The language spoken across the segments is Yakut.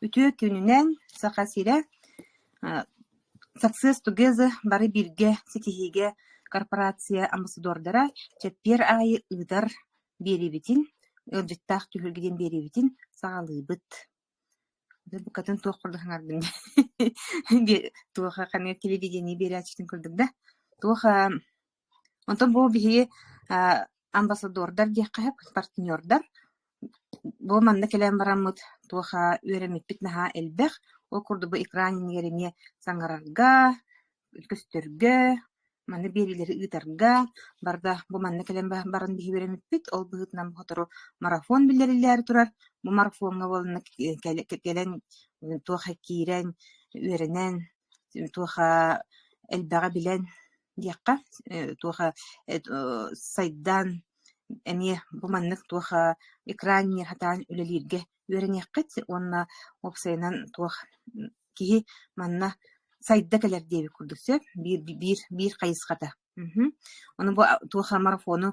Үтүө күнүнэн, Саха сирэ, Success Together бары бииргэ ситиһиигэ корпорация амбассадордара чэппиэр аайы ыытар биэриибитин, ыалдьыттаах түһүлгэ диэн биэриибитин саҕалыыбыт. Букатын туох курдук саҥардым туоха телевидение биэрээччитин курдук да. Туох Онтон бу биһиги амбассадордар диэххэ сөп, партнердар. Бу манна кэлэн бараммыт туоха үөрэммиппит наһаа элбэх. Ол курдук бу экран иннигэр эмиэ саҥарарга, көстөргө, манна биэриилэри ыытарга барда. Бу манна кэлэн баран биһиги үөрэммиппит. Ол быһыытынан сотору марафон биллэриллээри турар. Бу марафоҥҥа буоланна кэлэн туоха киирэн, үөрэнэн, туоха элбэҕи билэн диэххэ туоха сайдаан эмиэ бу маннык туоха экранньы хатаан үлэлииргэ үөрэниэххит уонна уопсайынан туох киһи манна сайда кэлэр диэбит курдук сөп биир биир биир хайысхата ону бу туоха марафону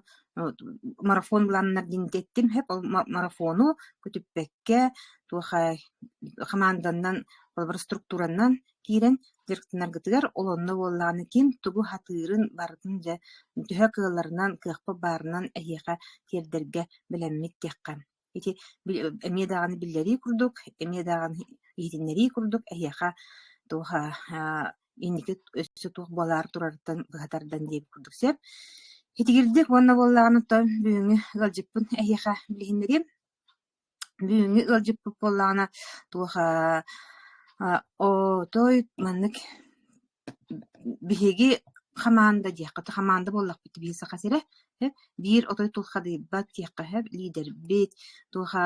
марафон былааннар диэн эттим эп ол марафону көтүппэккэ туоха хамаанданан холобура структуранан киирэн дьарыктанаргытыгар олонно буоллаҕына ким тугу сатыырын барытын дьэ төһө кыалларынан кыахпа баарынан эһиэхэ тиэрдэргэ бэлэммит диэххэ ити эмиэ даҕаны биллэрии курдук эмиэ даҕаны иһитиннэрии курдук эһиэхэ туох инники өссө туох буолаар турарыттан быһа тардан диэбит курдук сөп итигирдик уонна буоллаҕына тоҥ бүгүҥҥү ыалдьыппын эһиэхэ билиһиннэриэм Бүгүҥҥү ыалдьыппыт буоллаҕына туоха отой маннык биһиги хамаанда диэххэ хамаанда буоллахпыт биһиги Саха сирэ э биир отой тулхадыйбат диэххэ сөп лиидэрбит туоха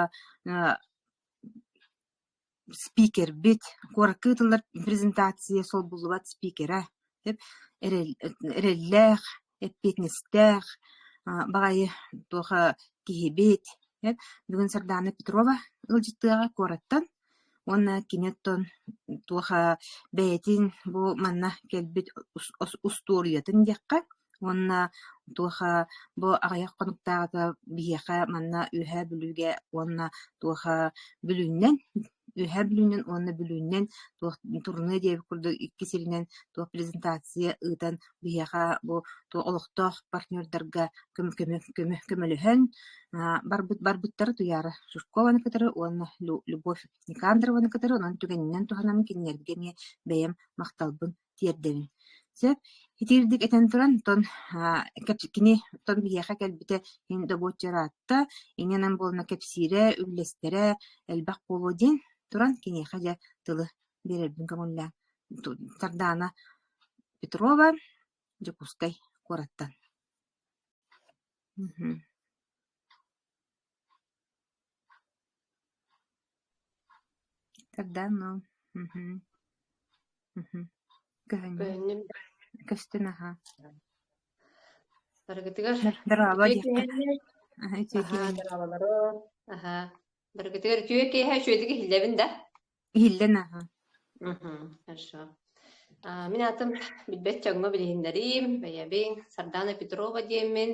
спикербит, куоракка ыытыллар презентация солбуллубат спикерэ, эрэллээх, эппиэтинэстээх, баҕайы туоха киһибит бүгүн Сардаана Петрова ыалдьыттыаҕа куораттан уонна кини оттон туоха бэйэтин бу манна кэлбит устуоруйатын диэххэ Уонна туоха бу аҕыйах хонуктааҕыта биһиэхэ манна Үөһээ Бүлүүгэ уонна туоха Бүлүүннэн Үөһээ Бүлүүннэн уонна Бүлүүннэн туох турнуо диэбит курдук икки сиринэн туох презентация ыытан биһиэхэ бу олохтоох партнердарга көмөлөһөн барбыт барбыттара Туйаара Суркованы кытары уонна Любовь Никандрованы кытары онон түгэнинэн туһанан кинилэргэ эмиэ бэйэм махталбын тиэрдэбин. Сөп, итиирдик этэн туран, отон кини отон биһиэхэ кэлбитэ иһин добуочча ыраатта, инэнэн буолана кэпсиирэ, үллэстэрэ элбэх буолуо диэн туран киниэхэ дьэ тылы биэрэрбин көҥүллээн Сардаана Петрова, Дьокуускай куораттан. Тардаан нуу мм мм көһүннүм Кыһынньым көстүн аһаа Барыгытыгар дарааба үтүө диэххэ киэһэ үтүө аһаа киэһэ дараабаларым аһаа Барыгытыгар үтүө киэһэ үчүгэйдик иһиллэбин да иһиллэн аһа Хорошо. А, Мин аатым билбэт дьоҥҥо билиһиннэриим, бэйэбин Сардана Петрова диэммин,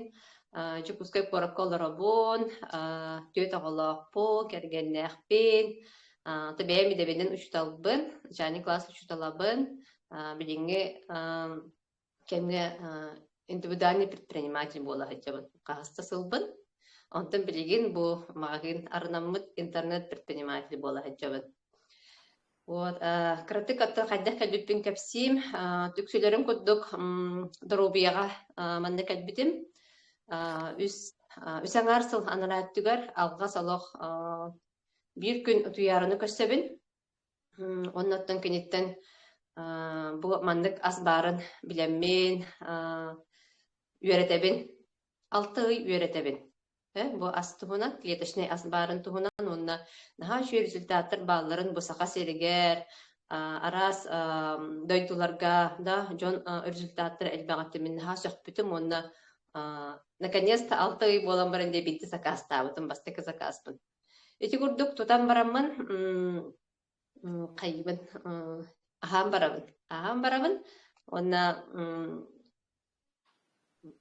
а, Дьокуускай куоракка олоробун, а, түөрт оҕолоохпун, кэргэннээхпин, а, то бэйэм идэбинэн учууталбын, Жанни класс учууталабын, а, билиҥҥи а, кэмҥэ индивидуальный предприниматель буола сылдьабын хаһыста сылбын онтон билигин бу магазин арынаммыт интернет предприниматель буола сылдьабын вот кыратык отто хайдах кэлбиппин кэпсиим үксүлэрин курдук доруобуйаҕа манна кэлбитим үс үс аҥаар сыл анараа өттүгэр алҕас олох биир күн утуйаарыны көрсөбүн Оннуттан киниттэн бу маннык ас баарын билэммин үөрэтэбин. Алта ый үөрэтэбин. Э, бу ас туһунан, клеточнай ас баарын туһунан уонна наһаа үчүгэй результаттар баалларын бу Саха сиригэр, араас дойдуларга да дьон результаттара элбэҕиттэн мин наһаа сөхпүтүм уонна наконец-то алта ый буолан баран диэбиттии сакаастаабытым, бастакы сакааспын. Ити курдук тутан бараммын м, хайбын м, аһаан барабын. Аһаан барабын уонна м,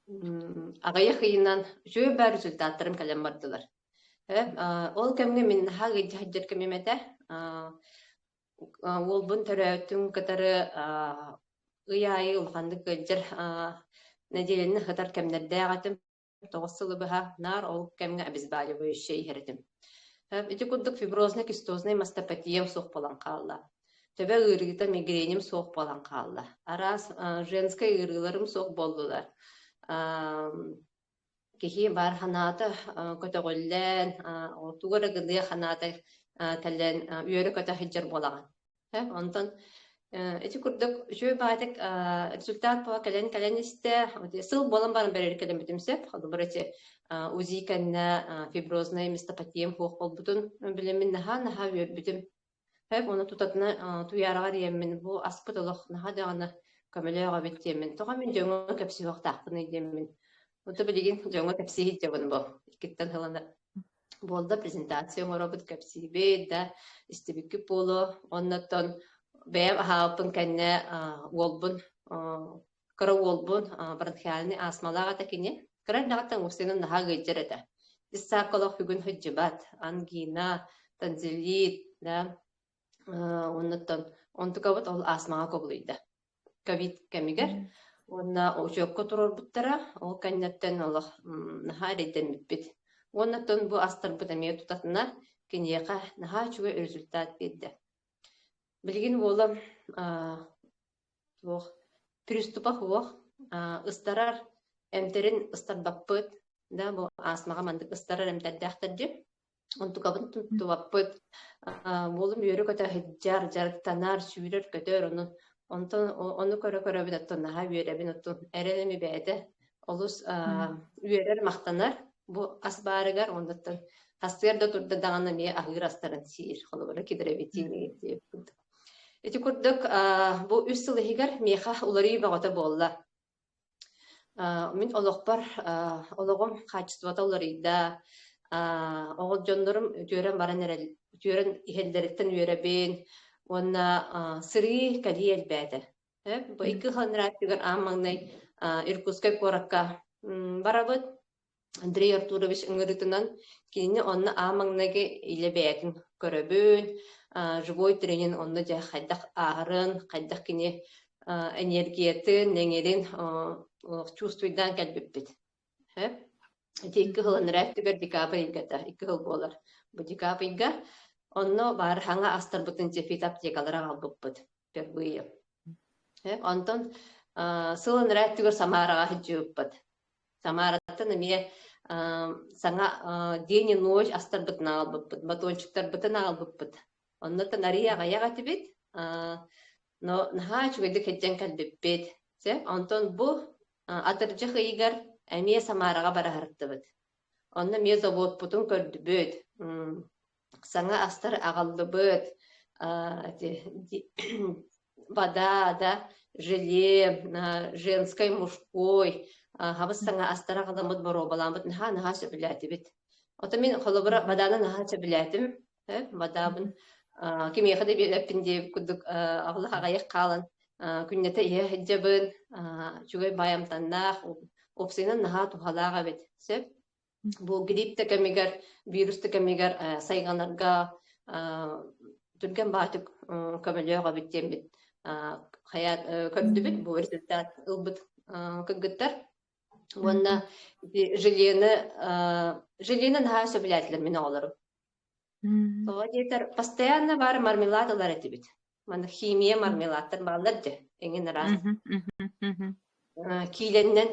м, аҕыйах ыйынан үчүгэй баар результаттарым кэлэн бардылар. Э, а, ол кэмҥэ мин наһаа ыйдьа сылдьар кэмим этэ. А, а, уолбун төрөөтүн кытары а, ый аайы улаханнык ыалдьар а, нэдиэлэни сытар кэмнэрдээх этим. тоҕус сылы быһа наар ол кэмҥэ обезболивающая иһэр этим. Ити курдук фиброзный кистозный мастопатия суох буолан хаалла. Төбө ыарыыта мигреним суох буолан хаалла. Араас женскэй ыарыыларым суох буоллулар. Киһи баар ханаата көтөҕүллэн, отугар ыгылыа ханаата кэлэн үөрэ көтө сылдьар буолаҕын. Сөп, онтон ити курдук үчүгэй баатык результат буола кэлэн кэлэн истэ сыл буолан баран бэрээри кэлэммитим сөп холобура ити УЗИ кэннэ фибрознай местопатием хуох болбутун билэмин наһаа наһаа үөрбүтүм Сөп, оны тутатына туяраҕар иэммин бу аспыт олох наһа даҕаны көмөлөөх эбит диэммин. Тоҕо мин дьоҥҥо кэпсиһиэхтаахпыный диэммин. Ото билигин дьоҥҥо кэпсииһит дьабын бу иккиттэн хылана. буолда презентация оҥоробут кэпсиибит да истибиккит буолуо оннуттан бэйэм аһаабыппын кэннэ уолбун кыра уолбун бронхиальный астмалаах этэ кини кыра эрдэҕиттэн устинын наһаа ыйдьар этэ ис сааккалах бүгүн сылдьыбат ангина танзелит да Оннуттан онтукабыт ол астмаҕа кобулуйда. Ковид кэмигэр уонна учуокка турорбуттара, ол кэнниттэн олох наһаа эрэйдэммиппит. Уоннаттан бу астарбыт эмиэ тутатына киниэхэ наһаа үчүгэй результат биэрдэ. Билигин уолам суох приступах уох ыстарар эмтэрин ыстарбаппыт да бу астмаҕа маннык ыстарар эмтэрдээхтэр дьи Онтукабын туттубаппыт. Буолум үөрэ көтө иһдьар, дьарыктанар, сүүрэр, көтөр ону. Онтон ону көрө-көрөбүн оттон наһаа үөрэбин оттон эрэним бэйэтэ олус үөрэр махтанар бу ас баарыгар оннуттан хастыгар да турда даҕаны эмиэ аһыыр астарын сиир холобура кидровитиниги ити курдук бу үс сыл иһигэр миэхэ уларыы бөҕөтө буолла Э, мин олохпор э, олоҕум хаачыстыбата уларыйда. Э, оҕо дьоннорум үтүөрэн баран эрэл үтүөрэн иһэллэриттэн үөрэбин уонна э, сырыы кэлии элбээтэ. Э, бу икки хонурааттыгар аан маҥнай э, Иркутскай куоракка м, барабыт. Андрей Артурович ыҥырыытынан кинини онно аан маҥнайгы илэ бэйэтин көрөбүн, а, живой тренин онно дьэ хайдах ааһарын, хайдах кини а, энергиятын, эҥирин а, а, чувствуйдаан кэлбиппит. Һэ? Ити икки хыл анараа өттүгэр декабрь ыйгата икки хыл буолар. Бу декабрь ыйга онно баар хаҥа астарбытын дьэ фитоаптекалары аҕалбыппыт впервые. Һэ? Онтон а, сыл анараа өттүгэр Самараҕа сылдьыбыппыт. Самараттан эмиэ саҥа день и ночь астарбытын аҕалбыппыт, батончиктарбытын аҕалбыппыт. Оннуттан арыый аҕыйах этибит, но наһаа үчүгэйдик сылдьан кэлбиппит. Сөп, онтон бу атырдьах ыйыгар эмиэ Самараҕа бара сырыттыбыт. Онно эмиэ заводпутун көрдүбүт. саҥа астар аҕаллыбыт эти вода да желе женской мужской хабыс саҥа астар аҕаламмыт боруобалааммыт наһаа наһаа сөбүлээтибит отон мин холобура воданы наһаа сөбүлээтим водабын кимиэхэ да биэрэппин диэбит курдук аҕалах аҕайах хаалан күннэтэ иһэ сылдьабын үчүгэй баайамтаннаах уопсайынан наһаа туһалаах эбит сөп Бу гриппті кэмигэр, вирусты кэмигэр сайҕанарга түргэн баатык көмөлөөх эбит диэммит хайа көрдүбүт бу результат ылбыт кыргыттар уонна желені желені наһаа сөбүлээтилэр мин оҕолорум тоҕо диэтэр постоянно бар мармелад ылар этибит манна химия мармеладтар бааллар дэ эҥин араас киилэннэн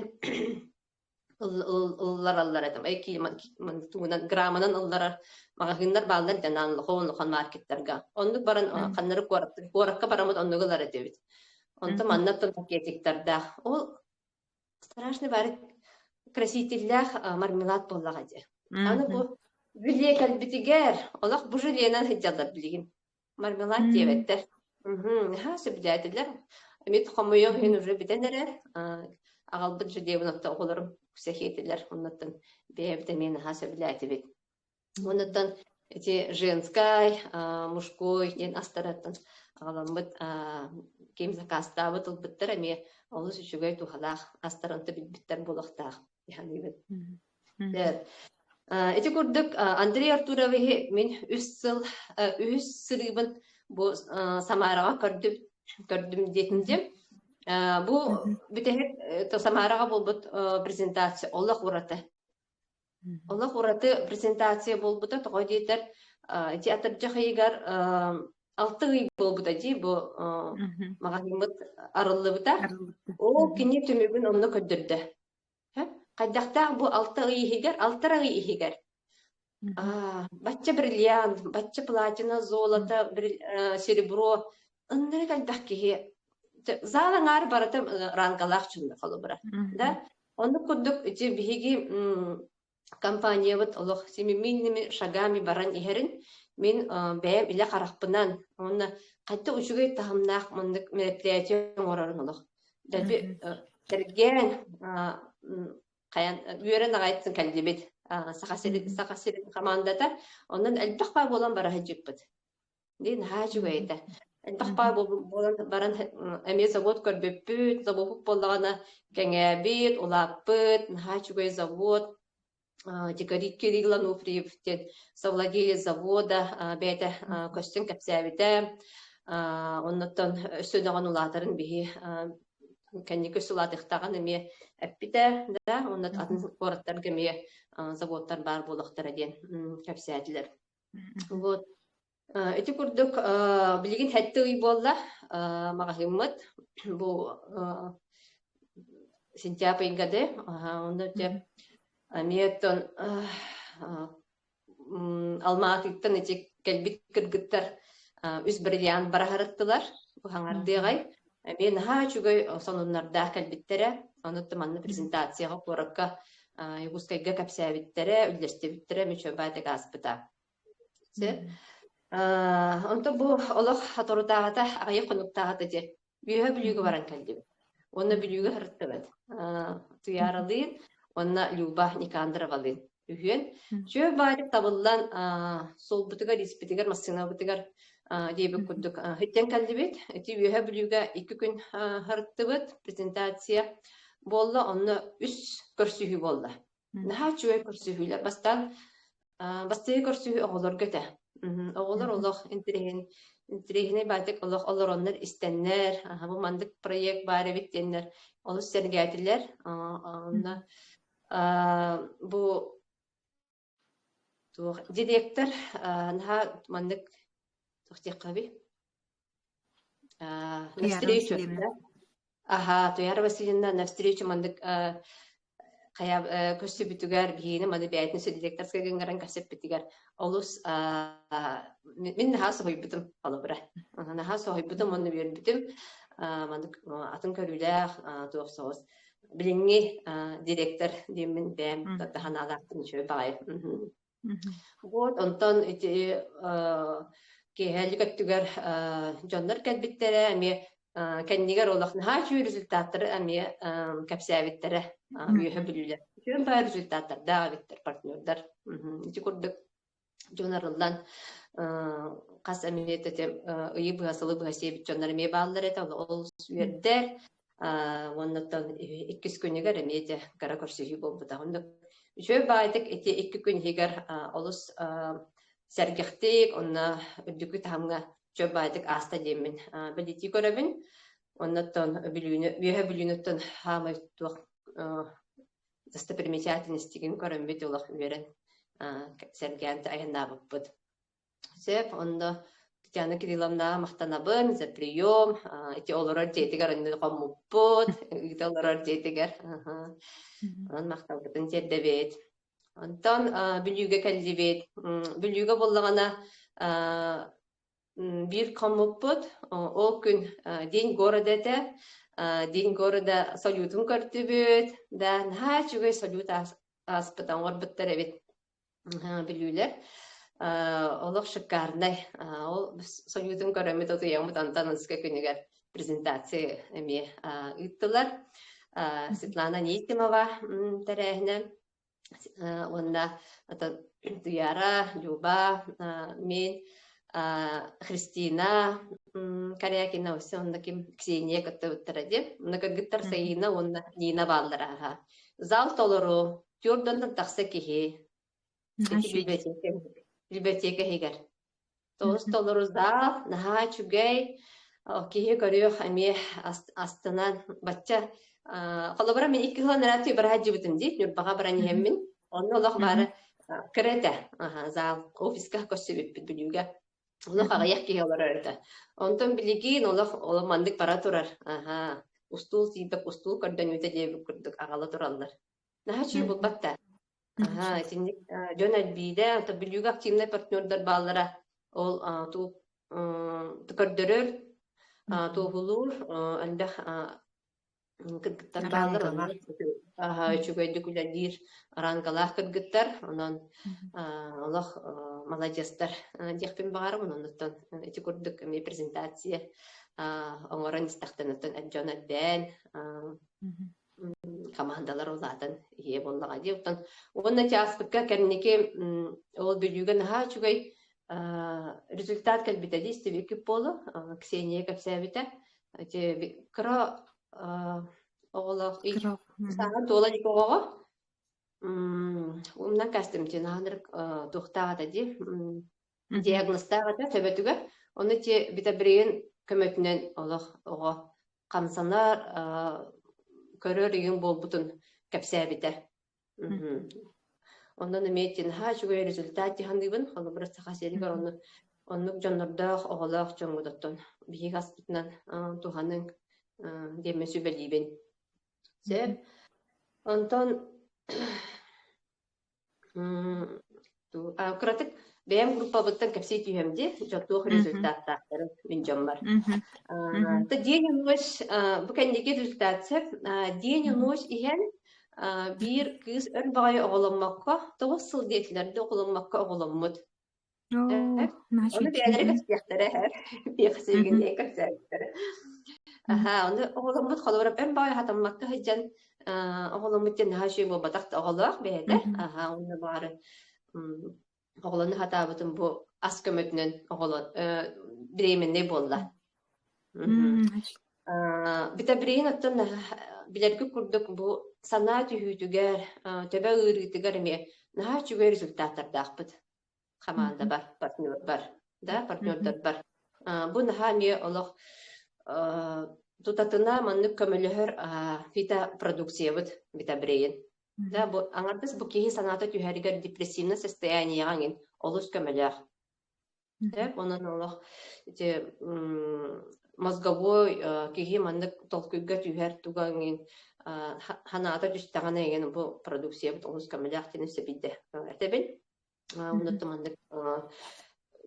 ыллараллар этим эй тугунан грамманан ылларар маҕаһыыннар бааллар дэн аан лохон лохон маркеттарга оннук баран ханнары куоракка куоракка бараммыт оннук ылар этибит онто манна тон пакетиктардаах ол страшный бары красителлээх мармелад буоллаҕа дии аны бу бүлиэ кэлбитигэр олох бу жилиэнэн сылдьаллар билигин мармелад диэбэттэр наһаа сөбүлээтилэр эмит хомойуох иһин уже бүтэн эрэ аҕалбыт жидебын отто оҕолорум сэхиэтилэр оннуттан бэйэбит эмиэ наһаа сөбүлээтибит оннуттан эти женскай мужской диэн астараттан аҕаламмыт ким закастаабыт ылбыттар эмиэ олус үчүгэй туһалаах астар онто билбиттэр буолуохтаах Ити курдук Андрей Артуровиһы мин үс сыл үһүс сырыыбын бу Самараҕа көрдүм көрдүм диэтим диэм бу бүтэһик Самараҕа буолбут презентация олох ураты олох ураты презентация буолбута тоҕо диэтэр ити атырдьах ыйыгар алты ый буолбута дии бу маҕаһыыммыт арыллыбыта ол кини түмүгүн онно көрдөрдө Хайдахтаах бу алта ый иһигэр, алтар ый иһигэр а, бачча бриллиант, бачча платина, золото, серебро, ыннары элбэх киһи зал аҥаара барыта рангалаах чунна холобура. Да? Оннук курдук ити биһиги компаниябыт олох симиминними шагами баран иһэрин мин бэйэм илэ харахпынан уонна хатта үчүгэй таһымнаах муннук мероприятие оҥорорун олох дэлби тэргээн хайан үөрэн аҕайтын кэллибит саха сирин саха сирин хамаандата онон элбэх баа буолан бара сылдьыппыт дии наһаа үчүгэй этэ элбэх баар буолан баран эмиэ завод көрбүппүт завоппут буоллаҕына кэҥээбит улааппыт наһаа үчүгэй завод декорит кириллану приюптен совладелец завода бэйэтэ көстөн кэпсээбитэ оннуттан өссө дөҕөн улаатарын биһи кэнники үс улаатыктаҕын эмиэ эппитэ да онно атын куораттарга эмиэ заводтар баар буолахтара диэн кэпсээтилэр Вот. Э, Ити курдук э, билигин сэттэ ый буолла э, маҕаһыыммыт бу э, сентябрь ыйга да аха, онно дьэ Мгм. эмиэтин э, э, м, Алмаатыттан ити кэлбит кыргыттар э, үс бриллиант бараһарыттылар, Мгм. хаҥардыаҕай. Эбии наһаа үчүгэй сонуннардаах кэлбиттэрэ. Онуттан манна презентацияҕа куоракка Якутскайга кэпсээбиттэрэ, үллэстибиттэрэ Мичобатик ааспыта. Онтон бу олох торутааҕата аҕыйах хонуктааҕата диэн үөһэ Бүлүүгэ баран кэллибит. Онно Бүлүүгэ сырыттыбыт. Туйааралыын, онно Люба Никандаровалыын. үһүөн. Чөө баайык табыллан суолбутугар, испитигэр, массыынабытыгар диэбит курдук үттэн кэллибит. Ити үөһэ бүлүүгэ екі күн харыттыбыт презентация буолла, онно үс көрсүһүү буолла. Наһаа үчүгэй көрсүһүүлэр. Бастаан бастыгы көрсүһүү оҕолорго этэ. Оҕолор олох интириһин интириһинэй баатик олох олороннор истэннэр, бу мандык проект баар эбит диэннэр олус сэргээтилэр. Онно Бу туох директор наһаа маннык туох диэххэбий навстречу аха туяра васильевна навстречу маннык хайа көрсүбүтүгэр киһини маны бэйэтин директорскай гыҥыран кэпсэппитигэр олус мин наһаа соһуйбутум холобура наһаа соһуйбутум уонна үөрбүтүм маннык атын көрүүлээх туох соҕус билиҥҥи директор диэммин бэйэм да аналаахтын үчүгэй баҕайы вот онтон ити киэһэлик өттүгэр дьоннор кэлбиттэрэ эмиэ кэннигэр олох наһаа үчүгэй результаттары эмиэ кэпсээбиттэрэ үөһэ бүлүүлэр үчүгэн баҕа результаттардаах эбиттэр партнердар ити курдук дьон арыллан хас эмиэ тэтэ ыйы быһа сылы быһа сиэбит дьоннор эмиэ бааллар этэ ол үөрдэр уоннаттан иккис күнүгэр эмиэ дэ кара көрсүһүү буолбута оннук үчүгэй баайтык ити икки күн иһигэр олус сэргэхтик онно үрдүкү таһымҥа чөл баайтык ааста диэммин билитии көрөбүн оннуттан бүлүүнү үөһэ бүлүүнүттэн хаамай туох достопримечательностигин көрөммүт олох үөрэн сэргээн айаннаабыппыт. Сөп, онно Татьяна Кирилловнаҕа махтанабын за прием, ити олорор дьиэтигэр онну хоммуппут, ыыта олорор дьиэтигэр. Онон махталбытын тиэрдэбит. Онтон Бүлүүгэ кэллибит. Бүлүүгэ буллаҕына Биир хоммуппут, ол күн День города этэ. День города салютун көрдүбүт. Да, наһаа үчүгэй салют ааспыта оҥорбуттар эбит билүүлэр. Олох шикарнай. Ол салютун көрөммүт утуйаммыт онтон ынска күнүгэр презентации эмиэ ыыттылар. Светлана Нейкимова тэрээһинэ уонна Туяра, Люба, мин, Христина Корякина өссө онно ким Ксения көттөбүттара диэн онно кыргыттар Саина уонна Нина бааллара аһа зал толору түөрдөннөн тахса киһи билбэтиэкэ иһигэр Тоҕус толоруздаах, наһаа үчүгэй, киһи көрүөх эмиэ астынан бачча холобура мин икки сыл нара түү бара дьыбытым дии Ньурбаҕа баран иһэммин онно олох баара кыра этэ зал офиска көрсүбүппүт Бүлүүгэ олох аҕыйах киһи олорор этэ онтон билигин олох олох маннык бара турар устул сиипек устул көрдөнүүтэ диэбит курдук аҕала тураллар Наһаа үчүгэй буолбат да. Аһа, итинник э, дьон элбиирэ, то бүлүүгэ активнай партнердар бааллара. Ол э, ту э, көрдөрөр, э, туоһулуур, э, элбэх э, кыргыттар бааллар, Арааҥкалар. онно аһа, үчүгэйдик үлэлиир арааҥкалаах кыргыттар, онон э, олох э, маладьыстар э, диэхпин баҕарабын, оннуттан э, ити курдук эмиэ презентация э, оҥорон истэхтэн оттон дьон элбээн, э, хамаандалар улаатан ийэ буоллаҕа дии оттон уонна чаастыкка кэнники ол бүлүүгэ наһаа үчүгэй результат кэлбитэ дии стебикип буолу ксения кэпсээбитэ кыра оҕолоох сааһын туола ик оҕоҕо умнан кастымти наанырык туохтааҕата дии диагнозтаах этэ төбөтүгэр ону ти бита брэйин көмөтүнэн олох оҕо хамсанар, көрөр үйүн буолбутун кэпсээбитэ. Онон эмиэтин ха үчүгэй результат тиханыыбын, холобура саха сиригэр онну оннук дьоннордоох, оҕолоох дьоммут оттон биһиги аспытынан туһаның диэммин сүбэлиибин. Сеп, Антон кыратык бэйэм группабыттан кэпсии түһүөм дии туох результаттаахтарын мин дьоммор день и ночь бу кэнники результация день и ночь иһэн биир кыыс өр баҕайы оҕоломмокко тоҕус сыл диэтилэр да оҕоломмокко оҕоломмут Ону бэйэлэрэ кэпсиэхтэрэ эһэр, кэпсиигинии кэпсээбиттэрэ. Аха, ону оҕоломмут холобура эн баай хатаммакка сылдьан оҕоломмут дьон наһаа үчүгэй буолбатах да оҕолоох бэйэтэ. Аха, уна баары оҕолону хатаабытым бу ас көмөтүнэн оҕолон бременный буолла. Мм, Э, Бүтэбириин оттон э, билэрги курдук бу санаа түһүүтүгэр, э, төбө ыарыытыгар эмиэ наһаа үчүгэй результаттардаахпыт хамаандабар, партнербар, да, партнердарбар. Э, Бу наһаа эмиэ олох э, тутатына маннык көмөлөһөр э, фитопродукциябыт Бүтэбириин. Да, бу аҥардас бу киһи санаата түһэригэр депрессивнай состоянияҕа эҥин олус көмөлөөх. Дьэп, онон олох ити м, мозговой э, киһи маннык толкуйга түһэр туга эҥин э, ха- ханаата түстэҕинэ эҥин бу продукциябыт олус көмөлөөх диэн сөбүйдэ этэбин. Э, Мгм. Онутта маннык э,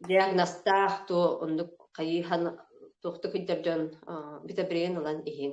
диагнозтаах ту оннук хайыһан туохта күддэр дьон э, битэ билигин ылан иһин.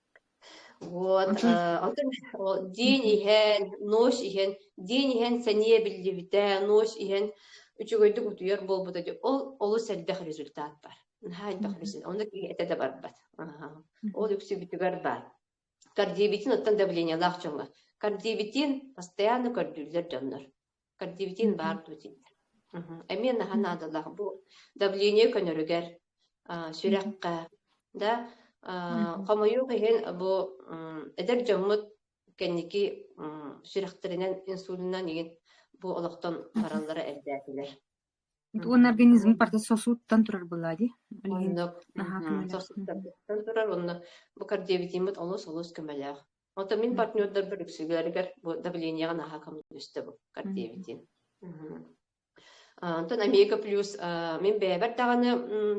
Вот, э, отон ол день иһэн, ночь иһэн, день иһэн сэниэ биллибитэ, ночь иһэн үчүгэйдик утуйар буолбута дии. Ол олус элбэх результат бар. Наһаа элбэх результат. Онно киһи этэ да барбат. Аха. Ол үксүбүтүгэр баар. Кардиобитин оттон давлениелаах дьоҥҥо. Кардиобитин постоянно көрдүүллэр дьоннор. Кардивитин баар дуу дии. Эмиэ наһаа наадалаах бу давление көнөрүгэр, сүрэххэ, да хомойуох иһин бу эдэр дьоммут кэнники сүрэхтэринэн, инсулинынан игин бу олохтон бараллара эрдээтилэр. Уонна организм барыта сосудтан турар былаа дии? Билигин Онно наһаа сосудтан турар уонна бу кардиовитиммыт олус-олус көмөлөөх. Ото мин партнердарбар үксүлэригэр бу давлениеҕа наһаа көмөлөстөбү кардиовитин. Онтон Омега плюс мин бэйэбэр даҕаны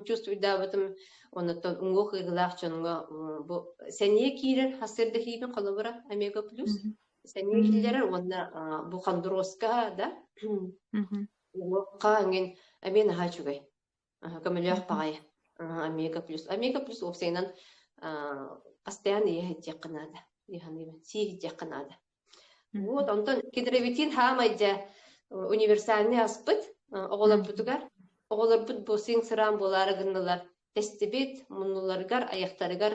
чувствуйдаабытым оннуттан уҥуох ыйгылаах дьоҥҥо бу сэниэ киирэр ассырдахиибин холобура Омега плюс сэниэ киллэрэр уонна бу хондуруоска да Уокка эҥин эмиэ наһаа үчүгэй. Аһа, көмөлөөх паҕай. Аһа, Омега плюс. Омега плюс уопсайынан аа, постоянно иһэ иһдиэххэ наада. Иһаныйма, сии иһдиэххэ наада. Вот, онтон кедровитин хаамай дьэ универсальный аспыт оҕолорбутугар оҕолорбут бу сиҥ сыраан буолаары гыннылар тэстибит муннуларыгар айахтарыгар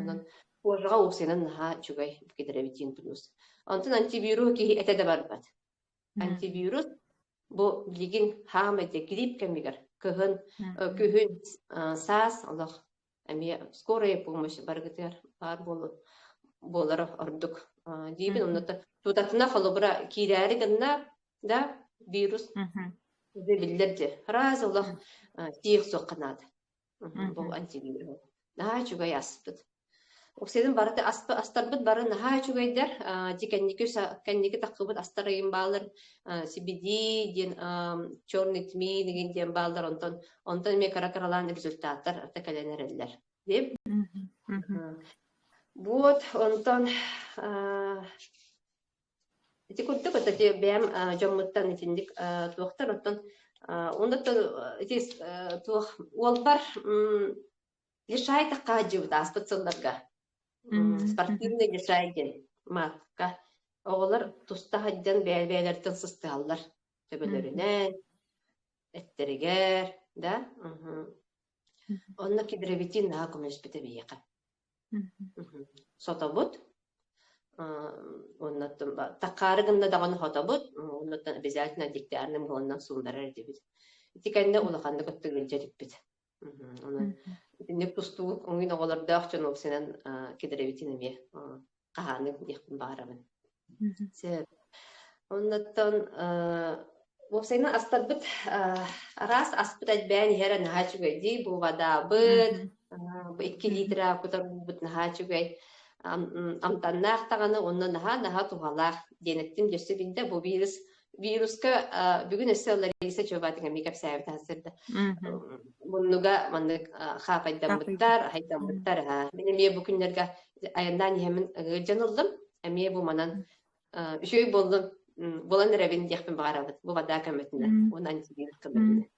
Онон кожаҕа уксанан наһаа үчүгэй кедровитин плюс. Онтон антивирус киһи этэ да барбат. Антивирус бу билигин хаамай диэ грипп кэмигэр кыһын, күһүн, саас олох эмиэ скорая помощь барыгытыгар баар буолу буолара ордук диибин онно тутатына холобура киирээри гынна да вирус биллэр же раз олох тиэх суох канаата Ол антигиир. Наһаа үчүгэй аспыт. Уксатын барыты астарбыт бары наһаа үчүгэйдэр. Дьи кэнники кэнники таххыбыт астар ыйын баалар CBD диэн черный тмей деген диэн баалар онтон онтон эмиэ кыра кыралаан результаттар кэлэн эрэллэр. Деп. Вот онтон Ити курдук ото ити бэйэм э, дьоммуттан итинник э, туохтар оттон э, онно то ити э, туох уолбар м, лишай тахха хаадьыбыт ааспыт сылларга м, Мгм. спортивный лишай диэн маатка оҕолор туста сылдьан бэйэ бэйэлэриттэн сыстыһаллар төбөлөрүнэн эттэригэр да мгм. Мгм. онно кедровитин наһаа көмөлөспүтэ биһиэхэ сотобут оннуттан такаары гынна даҕаны хотобут оннуттан обязательно диктиарным гыланнан суулларар этибит ити кэннэ улаханнык ыттыгылдьэтиппит онон итинник тустуук оҥин оҕолордоох дьон ол сынан кидэребитин эмиэ хаһааныг диэхпин баҕарабын сөп оннуттан уопсайынан астарбыт араас аспыт элбээн иһэрэ наһаа үчүгэй дии бу водаабыт бу икки литра кутарбыт наһаа үчүгэй амтаннаах даҕаны онно наһаа наһаа туһалаах диэниттин өссө биллэ бу вирус вируска бүгүн өссө Лариса Чубатиҥа мии кэпсээбит сырда. Муннуга маннык хаапайдаммыттар, хайдаммыттар аха. Мен эмиэ бу күннэргэ айаннаан иһэмин ыгылдьан ыллым. Эмиэ бу манан үчүгэй боллун болан эрэбин диэхпин баҕарабыт. Бу бадаа көмөтүнэ. Унан сигин кылынна.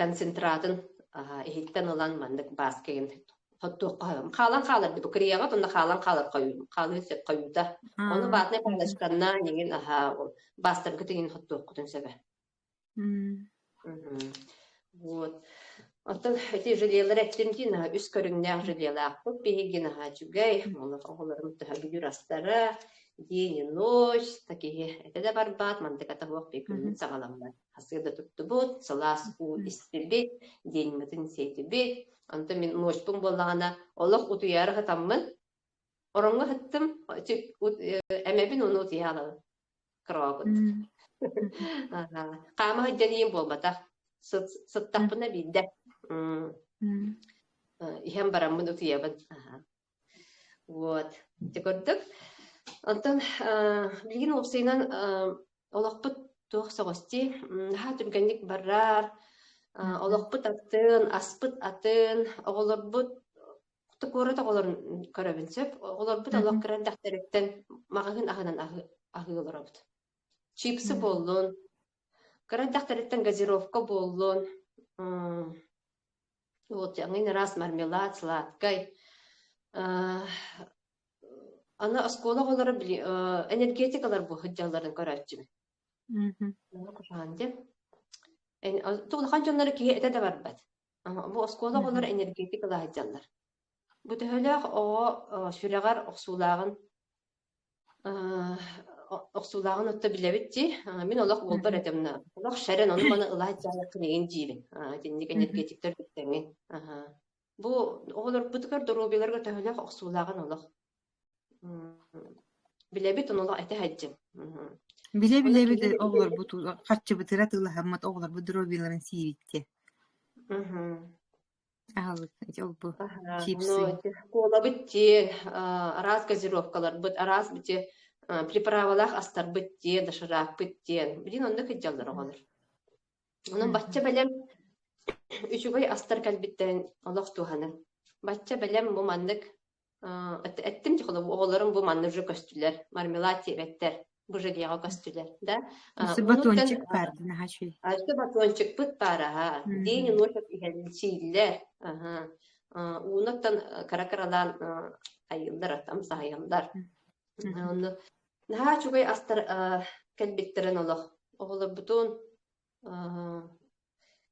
концентратын иһиттэн ылан маннык баас кигин туохха хаалан хааларга бу кореяҕа тонна хаалан хаалар хойуу хаалыы сөп хойуута ону ватный палочканна ниҥин аһаа баастарга тиҥин хоттуохкутун сөбө вот оттон эти желиелер эттим дин үс көрүҥнээх желиелаахпыт биһигин аһаа үчүгэй оҕолорум төһө бүлүр астара день и ночь такие это да барбат мантыка таһуох бикүнүн саҕаламмат хасыа да туттубут, сылаас уу истибит, диэҥмитин сиэтибит. Онтон мин муочпун буоллаҕына, олох утуйаары сатаммын, ороҥҥо сыттым, эмэбин ону утуйа алабын. Кыроокут. Хаама сылдьаныйым буолбатах. Сыттахпына биирдэ. Иһэн бараммын утуйабын. Вот, дьэ курдук. Онтон билигин уопсайынан олохпут туох соҕустий, наһаа түргэнник барар, олохпут атын, аспыт атын, оҕолорбут куорат оҕолорун көрөбүн сөп. Оҕолорбут олох кыра эрдэхтэриттэн маҕаһыын аһынан аһыы олоробут. Чипсы буоллун, кыра эрдэхтэриттэн газировка буоллун, Вот эҥин раз мармелад, сладкай. Аны оскуола оҕолоро энергетикалар бу сылдьалларын көрөөччүбүн. Тугу улахан дьоннор киһи этэ да барбат. Бу оскуола оҕолоро энергетикалар сылдьаллар. Бу төһөлөөх оҕо сүрэҕэр охсуулааҕын Э, охсуулааҕын отто билэбит дии. Э, мин олох буолбар Мгм. этим на олох шәрэн ону-маны ылаачаары килигин диирин. Э, итинник Мгм. энергетиктэр бүттэҥин. Аха. Бу оҕолорбутугар доруобуйаларга төһөлөөх охсуулааҕын олох м, билэбит, ону олох этэ-һэддьим. Мгм. Оны Билэ-билэ бит киһи оҕолорбут харчыбытыгар атыылаһаммат оҕолорбут доруобуйаларын сиибит диэ. Мгм. Аһылыкка дьолбу Аһа, чипсы. ну, школабыт дьиэ, а, араас газировкаларбыт, араас бити а, приправалаах астарбыт дьиэ, дошираакпыт диэн. Билин онно кыддьаллар оҕолор. Онон бачча бэлэм үчүгэй астар кэлбиттэрин олох туһаныҥ. Бачча бэлэм бу маннык Эттим дьэ оҕолорум бу манна уже көстүлэр, мармелад сиэбэттэр, быжыгеҕа көстүлэр да. Esse Onuncan батончик паар дин аһаши. Ача батончикпыт баар аһа. День и ночь иһэн сииллэр. Аха. Уунаттан кара-каралаан айыллар атам саһайаллар. Онно наһаа чугай астар кэлбиттерин олох оҕолорбутун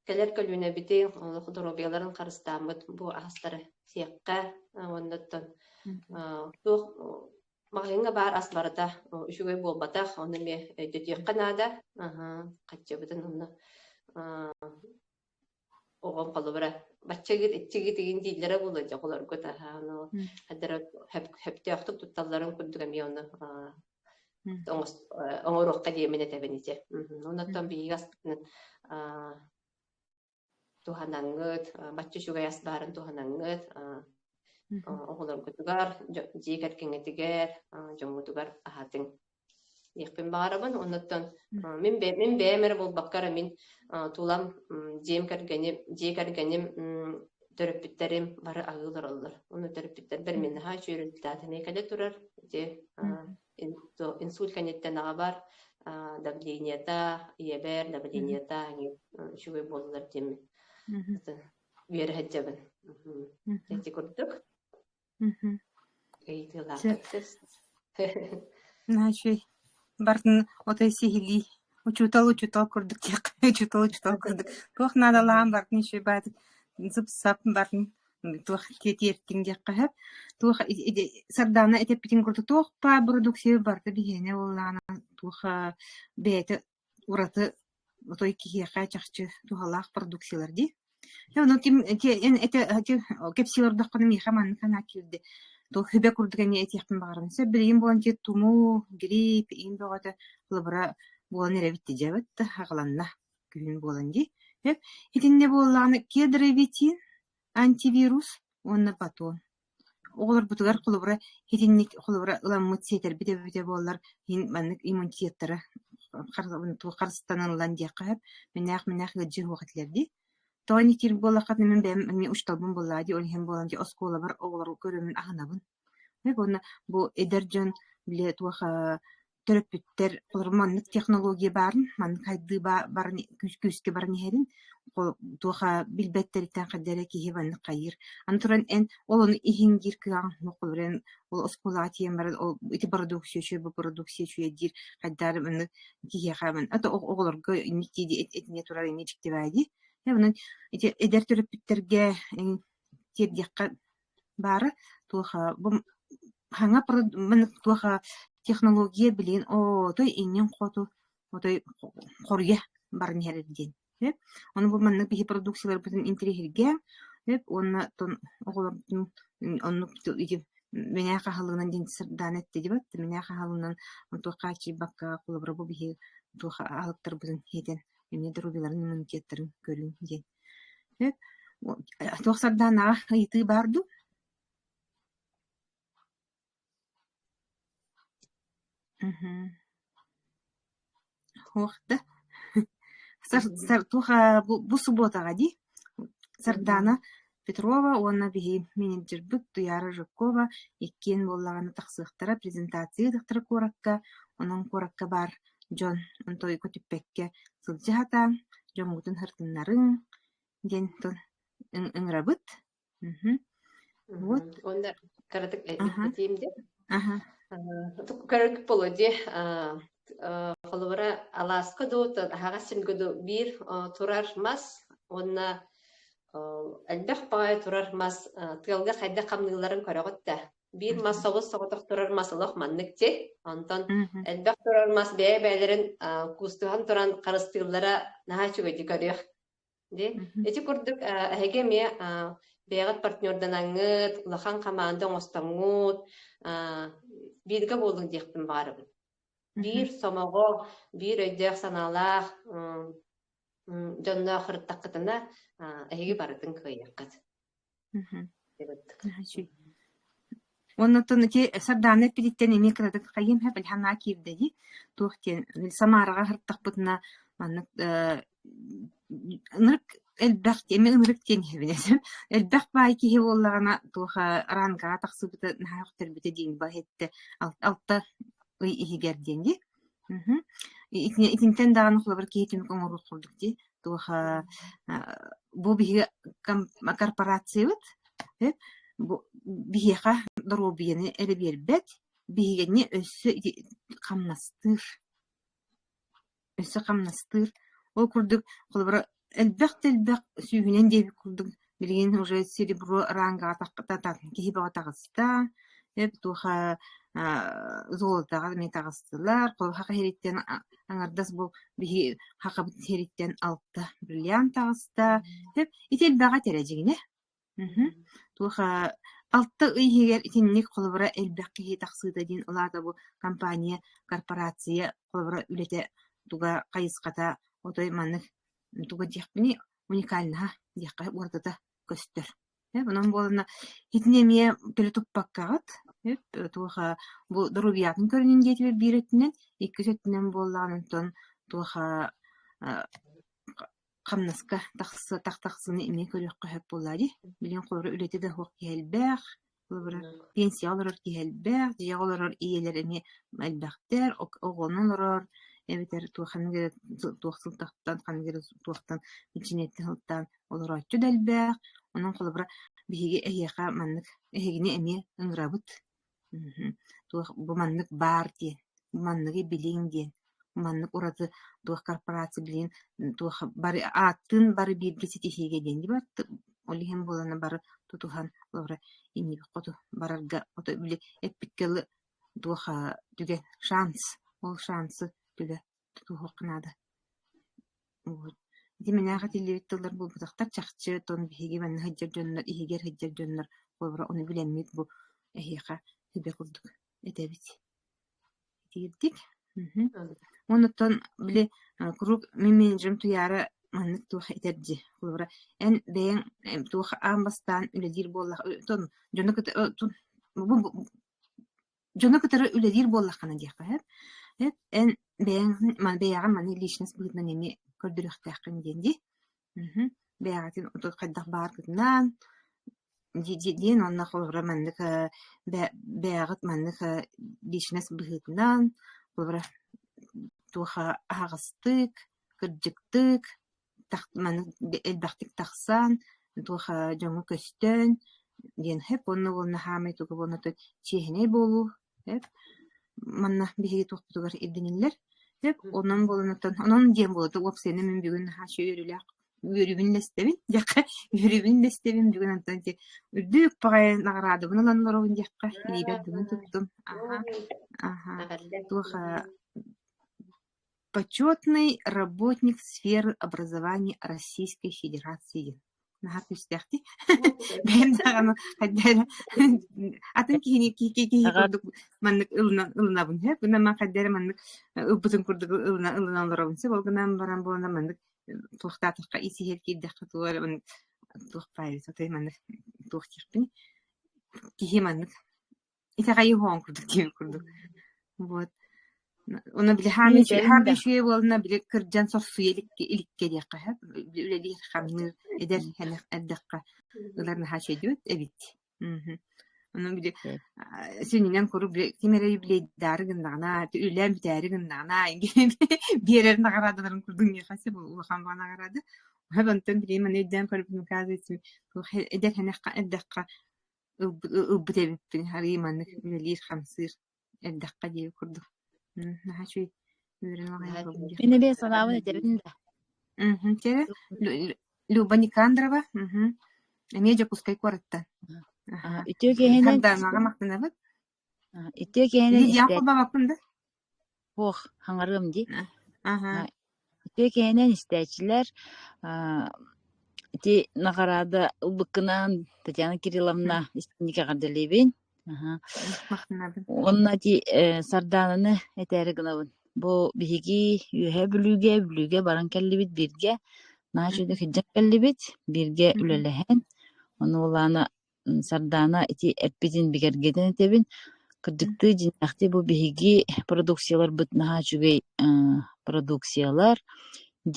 Кэлэр көлүөнэбитин олох доруобуйаларын харыстааммыт бу аһастары сиэххэ уонна оттон туох маҕаһыыҥҥа баар ас барыта үчүгэй буолбатах, ону эмиэ өйдөтүөххэ наада. Хааччыбытын онно оҕом холобура бачча гыт иччи гитигин дииллэрэ буолуо дьоҕулорго таһаано адара хөптөөхтүк тутталларын курдук эмиэ ону оҥоруохха диэмин этэбин ити оннотон биһиги аспытын туһанаҥҥыт бачча үчүгэй ас баарын туһанаҥҥыт оҕолоргутугар дьиэ кэргэҥҥитигэр дьоҥҥутугар аһатыҥ диэхпин баҕарабын. Оннуттан мин бэйэм, мин бэйэм эрэ буолбакка эрэ мин тулам дьиэм кэргэним, дьиэ кэргэним төрөппүттэрим бары аһыы олороллор. Ону төрөппүттэрбэр мин наһаа үчүөрүлтээх линейкада турар. Ити инсульт кэнниттэн аҕа бар, давлениета, ийэбэр давлениета үчүгэй буоллулар диэммин. Үөрэ сылдьабын. Ити курдук. Ыйытыылаахтык сыс Значит, бартын отой сиһилии учуутал учуутал курдук диэххэ учуутал учуутал курдук туох наадалаах бартын еще баатык сып-сап бартын туох тиэртиҥ диэххэ сөп туох сардаана этэппитин курдук туох баар бородууксуйа барыта биһиэнэ буоллаҕына туох бэйэтэ ураты отой киһиэхэ чахчы туһалаах продукциялар дии. Э, ну, тим, те, эн эти, эти, кэпсии олордоххуна миэхэ манна санаа киирдэ. Туох хүбэ курдук эни этиэхпин баҕарабын. Сөп билигин буолан ти тумуу, грипп, иин бөҕөтө лабыра буолан эрэбит ти дьэбит да хаҕаланна күһүн буолан дии. Итиннэ буоллаҕына кедровитин, антивирус уонна батон Оҕолорбутугар холобура итинник холобура ыламмыт сиэтэрбит эбэбитэ буоллар иһин маннык иммунитеттары туох харыстанан ылан диэххэ сөп мэнээх-мэнээх ыалдьыы суох этилэр дии. Тоҕо ини киир буоллаххытына мин бэйэм эмиэ учууталбын буоллаҕа дии ол иһин буолан дии оскуолабар оҕолорго көрөммүн аһынабын. Уонна бу эдэр дьон били туох төрөппүттэр олорон маннык технология баарын, маннык хайдыы барын күүскэ баран иһэрин туоха билбэттэриттэн хайда эрэ киһи маннык хайыыр. Аны туран эн ол ону иһин диир кыаҕаҥ суох олорон ол оскуолаҕа тиийэн баран ол ити бородууксуйа үчүгэй бу бородууксуйа үчүгэй диир хайдары маннык киһиэхэ ман ата оҕолорго инник дии этине турар инньэ дьиктибээ дии. Э онон ити эдэр төрөппүттэргэ тиэрдиэххэ Баара туоха бу саҥа туоха технология билигин отой иннин-хоту отой хоруйа баран иһэр диэн ону бу маннык биһи продукцияларбытын интэриэһиргээҥ уонна оҕолорбутун оннук мэнээ хаһылыгынан диэн сырдаан эттэ дибат мэнээ хаһылыгынан туох хааччыйбакка холобура бу биһи туоха аһылыктарбытын иһитэн эмиэ доруобуйаларын иммунитеттарын көрүҥ диэн Дьэ, туох сардаанаҕа ыйытыы баар дуу? Мгм. Суох да? Сар сар туох, аа, бу бу субуотаҕа дии? Сардаана Петрова уонна биһи менеджербыт Туйаара Жиркова иккиэн буоллаҕына тахсыахтара, презентация ыытыахтара куоракка, онон куоракка баар дьон тойугу түппэккэ сылдьа сатаан дьоҥҥутун хартыннарыҥ диэн тыл ыҥырабыт вот уонна кыратык ипотиим диэн полоде холобура алааска дуу аһаҕас симгэ дуу биир турар мас уонна элбэх баҕайы турар мас тыалга хайдах хамныыларын көрөҕүт да биир мас собус соҕотох турар мас олох маннык дьи онтон элбэх турар мас бэйэ-бэйэлэрин куустуһан туран харыстыыллара наһаа үчүгэйдик көрүөх ди ити курдук эһиги эмиэ бэйэҕит партнерданаҥҥыт улахан хамаанда оҥостоҥҥут бииргэ буолуҥ диэхпин баарыбын биир сомоҕо биир өйдөөх санаалаах дьонноох ырыттаххытына эһиги барытын кыайыаххыт Уонна оттон ити сардаана эппититтэн эмиэ кыратык хайыам иһэ билэ санаа киирдэ дии. туох диэн Самараҕа сырыттахпытына маннык э, ынырык элбэх эмиэ ынырык диэн иһэбин этим. Элбэх баай киһи буоллаҕына туоха Ранкаҕа тахсыбыта наһаа көхтөрбүтэ диэн баҕа эттэ алта ый иһигэр диэн дии. Мгм. Итини итинтэн даҕаны холобур киһитинник оҥорор курдук дии. Туоха э, бу биһиги ком- корпорациябыт э, бу биһиэхэ доруобуйаны эрэ биһигини өссө ити- хамнастыыр, өссө хамнастыыр. Ол курдук, холобура, Элбэх да элбэх сүүһүнэн диэбит курдук, билигин уже серебро рангаҕа тахтатан киһи бөҕө таҕыста, э туоха аа золотоҕа эмиэ таҕыстылар, куйаха иһириттэн аҥардас бу биһи хахабыт иһириттэн алта бриллиант таҕыста, итилбэҕэ тирэ дьиҥинэ. Мм, туоха алта ый иһигэр итинник холобура элбэх киһи тахсыыта диэн ол аата бу компания, корпорация холобура үлэтэ туга хайысхата отой маннык туга диэхпиний, уникальнаһа диэххэ уратыта көстөр. Э, онон буоланна итини эмиэ төлө туппаккаҕыт, э, туоха бу доруобуйатын көрүнүн диэтибэр биир өттүнэн, иккис өттүнэн буоллаҕына, онтон туоха хамнаска тахса тахсыны эмиэ көрүөххэ сөп буоллаа дии. Билигин холобура үлэтэ да суох киһи элбэх, холобура пенсияҕа олорор киһи элбэх, дьиэҕэ олорор ийэлэр эмиэ элбэхтэр, оҕону олорор эбэтэр туох ханнык эрэ туох сылтахтан ханнык эрэ туохтан бэчиниэтэ сылтаан олорооччу да элбэх. Онон холобура биһиги эһиэхэ маннык эһигини эмиэ ыҥырабыт. туох бу маннык баар диэн, манныгы билиҥ диэн, маннык ураты туох корпорация билигин туох бары ааттыын бары бииргэ ситиһиигэ диэн диэн бар ол иһин буолана бары тутуһан олоро иннибит хоту барарга ото били эппиккэ тылы туох түгэн шанс ол шансы түгэ тутуһуохха наада. Вот. Ити мэнээк этиллибит тыллар буолбутахтар чахчы, оттон биһиги манна сылдьар дьоннор, иһигэр сылдьар дьоннор холобура ону билэммит бу эһиэхэ сүбэ курдук этэбит. Итиирдик. Онуттан били куруук мин менеджерим Туяра маннык туох этэр дии. Холобура эн бэйэҥ туох аан бастаан үлэлиир буоллах, дьону кытта бу дьону кытары үлэлиир буоллаххына диэххэ сөп. Эт эн бэйэҥ бэйэҕин маны личность быһыытынан эмиэ көрдөрүөхтээххин диэн дии. Мхм. Бэйэҕитин отут хайдах бааргытынан диэн уонна холобура маннык бэйэҕит маннык личность быһыытынан холобура туох аһаҕастык, кырдьыктык маны элбэхтик тахсан туоха дьоҥҥо көстөн диэн хэп уонна уол наһаамай туга буолан отон чиэһинэй буолуу хэп манна биһиги туохпутугар ирдэниллэр хэп онон буолан отон онон диэн буолута уопсайынан мин бүгүн наһаа үөрүүлээх үөрүүбүн лэстэбин диэххэ үөрүүбүн лэстэбин бүгүн онтон ити үрдүк баҕайы наҕараадабын ылан олоробун диэххэ илиибэр дымын туттум аха аха туоха Почетный работник сферы образования Российской Федерации наһаа күүстээхтии бэйэм даҕаны хайда эрэ атын киһини киһи курдук маннык ылынан ылынабын сөп гынан ман хайда эрэ маннык ылбытын курдук ылынан ылынан олоробун сөп ол гынан баран буолана маннык туохтаатахха ис иһигэр киирдэххэ туох эрэ маннык туох баайа сотой маннык туох диэхпиний киһи маннык Итэҕэйи хоһоон курдук диэн курдук. Вот. Ону били хаамыы үчүгэй, хаамыы үчүгэй буолна били кырдьан сохсуйа иликкэ иликкэ диэххэ сөп. Үлэлиир хамныы эдэр хэнэх эрдэххэ ылар наһаа чөйдүөт эбит. Мм. Ону били сининэн куруук ким эрэ билейдаары гыннаҕына, үлээн бүтээри гыннаҕына биэрэр наҕараадаларын курдук миэхэ сэ улахан наҕараада. Хэб онтон билим аны өйдөөн көрбүтүм казуется эдэр хэнэххэ эрдэххэ ылбыт эбиппин арыый маннык үлэлиир хамсыыр эрдэххэ диэри курдук наһаа үчүгэй үөрэн аҕайан мин эмиэ санаабын этэбин да Люба Никандрова эмиэ Дьокуускай куораттан үтүө киэһэнэн Ити киһини истээччи суох хаҥарыам дии. Ити киһинэн истээччилэр ити наҕараада ылбыккынаан Татьяна Кирилловна истиҥник эҕэрдэлиибин. Уонна ити Сардаананы этээри гынабын. Бу биһиги Үөһээ Бүлүүгэ Бүлүүгэ баран кэллибит бииргэ. Наһаа үчүгэй кэллибит. Бииргэ үлэлэһэн, ону улаана Сардаана ити эппитин бигэргэтэн этэбин. Кырдьыктыы дьиҥнээхтик бу биһиги продукцияларбыт наһаа үчүгэй аа продукциялар.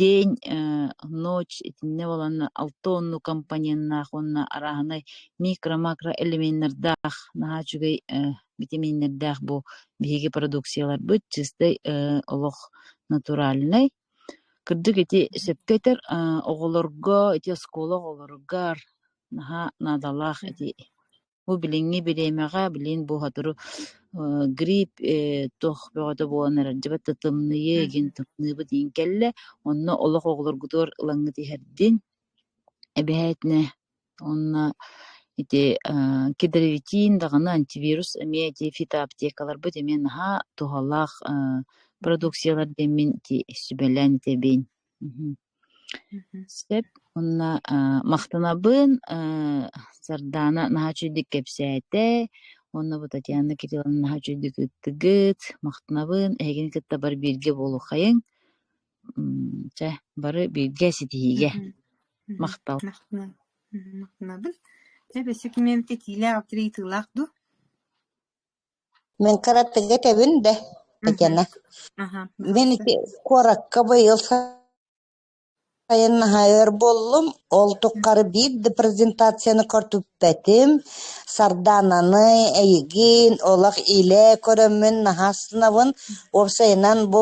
День, ээ, ночь итиннэ буоланна алта онну компоненнаах уонна арааһынай микро-макро элеменнардаах наһаа үчүгэй ээ битэмииннэрдээх бу биһиги продукцияларбыт чистай ээ олох натуральнай. Кырдьык ити сөпкө этэр, аа оҕолорго, ити оскуола оҕолоругар Наһаа наадалаах эти. Бу билиҥҥи бириэмэҕэ, билигин бухатыру э, грипп э, туох бөҕөтө буолан эрэр, дьыбыт тымныы, игин тымныыбыт иин кэллэ. Онно олох оҕолоргутугар ылаҥҥыт иһэрдин. Эбэһээтинэ уонна ити э, кедровитин даҕаны антивирус эмиэ ити фитоаптекаларбыт эмиэ наһаа туһалаах э, продукциялар диэммин ити сүбэлээн итэбиин. Мгм. Сөп уонна махтанабын Сардаана наһаа үчүгэйдик кэпсээтэ уонна бу Татьяна Кирилловна наһаа үчүгэйдик ыттыгыт махтанабын эһигини кытта бары бииргэ буолуоххайыҥ чэ бары бииргэ ситиһиигэ махтал махтанабын эбэ ситимиэм итиилээх авторитылаах дуу Мин каратэга этэбин да, Татьяна, Ага. мен ити куоракка быйыл сайын наһаа өр буоллум. Ол туххары биир да презентацияны көртүппэтим. Сардаананы эйигин олох илэ көрөммүн наһаа сынабын. Уопсайынан бу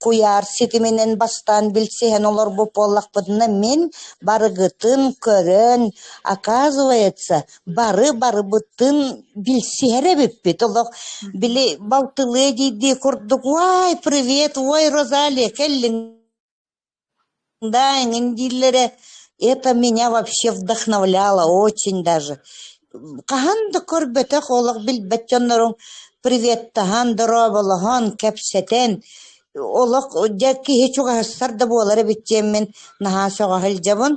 куйаар ситиминэн бастаан билсиһэн олорбут буоллахпытына, мин барыгытын көрөн, оказывается, Бары барыбытын билсиһэр эбиппит олох. Били балтылыы диирдии курдук «Уай, привет! Ой, Розалия, кэллиҥ да, эҥин» дииллэрэ это меня вообще вдохновляло очень даже. Хаһан да көрбөтөх олох билбэт дьоннорум приветтаһан, дорооболоһон, кэпсэтэн олох дьэ киһи чугаһастар да буолар эбит диэммин наһаа сөҕө сылдьабын.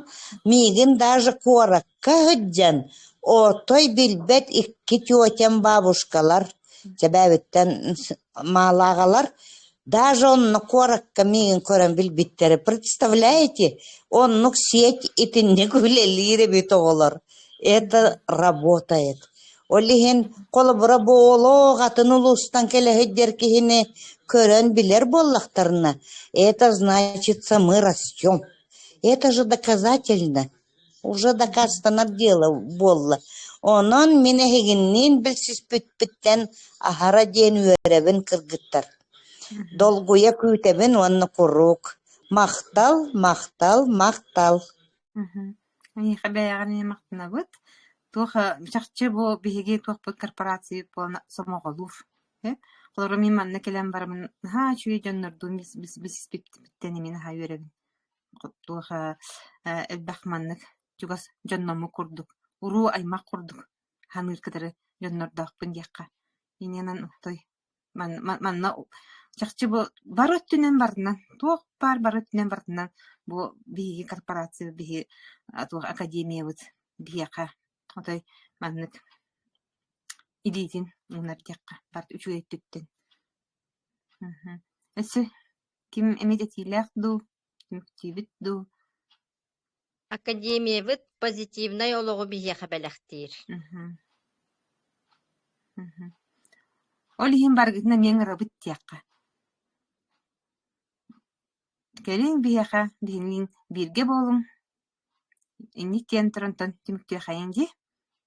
Миигин даже куорат Кыһдьан, отой билбэт икки тетям бабушкалар, чэбээбиттэн маалааҕалар, даже онно куоракка миигин көрөн билбиттэрэ «Представляете, оннук сеть итинник үлэлиир эбит оҕолор, это работает». Ол иһин холобура буолуох атын улуустан кэлэһиддэр киһини көрөн билэр буоллахтарына, это значится мы растем. Это же доказательно. Уже дакаастанар дьыала буолла, онон мин эһигинниин билсиспиппиттэн аһара диэн үөрэбин кыргыттар, долгуйа күүтэбин уонна куруук: «Махтал, махтал, махтал» Эйиэхэ бэйэҕин эмиэ махтанабыт. Туох чахчы бу биһиги туохпут корпораций буолан сомоҕолуур э? Холоро мин манна кэлэн барамын наһаа үчүгэй дьоннордуун бисиспиттэн эмиэ наһаа үөрэбин туох ээ элбэх маннык чугас дьонноммут курдук уруу-аймах курдук саныыр кытары дьоннордоохпун диэххэ иннинэн отой манна чахчы бу бары өттүнэн барытынан туох баар бары өттүнэн барытынан бу биһиги корпорация биһи туох академиябыт биһиэхэ отой маннык илиитин уунар диэххэ барыта үчүгэй өттүттэн өссө Ким эмит этиилээх дуу, түмүктүүбүт дуу Академиябыт позитивнай олоҕу биһиэхэ бэлэхтиир Мгм. Мгм. Ол иһин барыгытын эмиэ ыҥырабыт диэххэ. Кэлиҥ биһиэхэ биһиниин бииргэ буолуҥ. Инник киэн туран түмүктүөххэйиҥ дии.